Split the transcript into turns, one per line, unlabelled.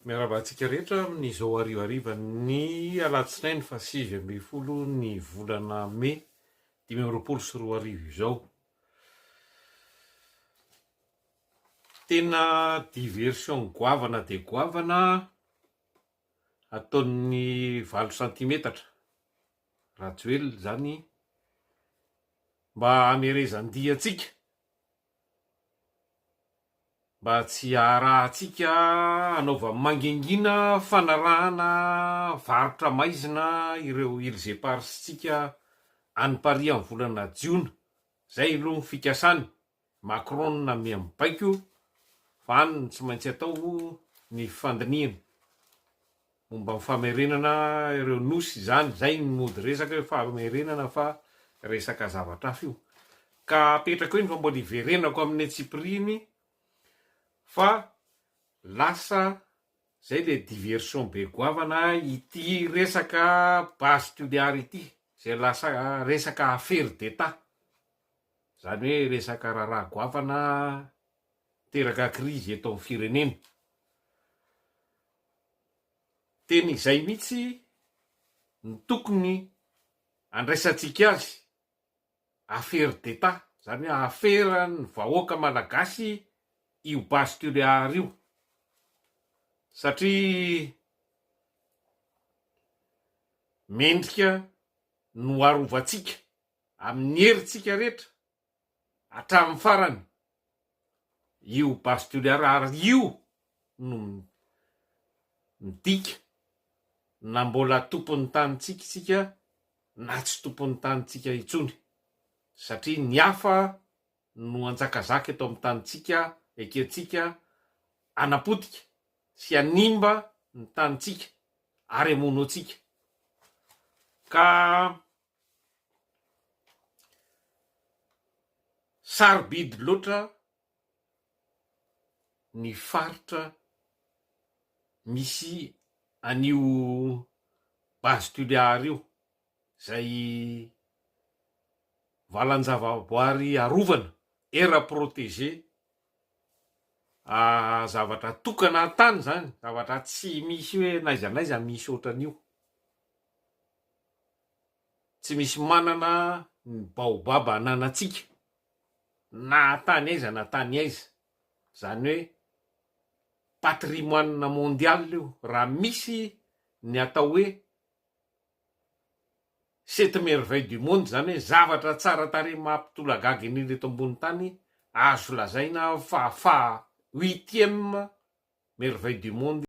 Miarahaba antsika rehetra amin'izao harivariva ny alatsinainy faha sivy ambin'ny folo ny volana mey dimy amby roapolo sy roa arivo izao. Tena diversion goavana dia goavana ataon'ny valo santimetatra Rajoelina izany mba hamerezan-dia antsika. Mba tsy haharahantsika hanaovany mangingina fanarahana varotra maizina ireo Ilzeparsintsika any Paris amin'ny volana jiona, izay aloha ny fikasany, Macron no namia ny baiko fa any no tsy maintsy atao ny fandinihana. Momba ny famerenana ireo nosy izany, izay ny mody resaka eo, famerenana fa resaka zavatra hafa io. Ka apetrako eny fa mbola hiverenako amin'ny antsipiriany fa lasa izay ilay diversion be goavana ity resaka base tuléar ity, izay lasa resaka affaire d'Etat. Izany hoe resaka raharaha goavana teraka krizy eto amin'ny firenena. Tena izay mihitsy no tokony andraisantsika azy, affaire d'Etat, izany hoe aferan'ny vahoaka malagasy io base Tuléar io, satria mendrika no arovantsika amin'ny herintsika rehetra. hatramin'ny farany io base de Toliara ary io no midika na mbola tompon'ny tanintsika isika na tsy tompon'ny tanintsika intsony satria ny hafa no anjakazaka eto amin'ny tanintsika ekentsika anapotika sy hanimba ny tanintsika ary amonoantsika ka Sarobidy loatra ny faritra misy an'io Base Toliara io izay valan-javaboary arovana, aire protégée, zavatra tokana an-tany izany, zavatra tsy misy hoe n'aiza n'aiza misy ohatran'io. Tsy misy manana ny baobab ananantsika na tany aiza na tany aiza, zany hoe patrimoine mondial io raha misy ny atao hoe sept merveilles du monde zany hoe zavatra tsara tarehy mampitolagaga indrindra eto ambony tany azo lazaina fa faha huitième merveille du monde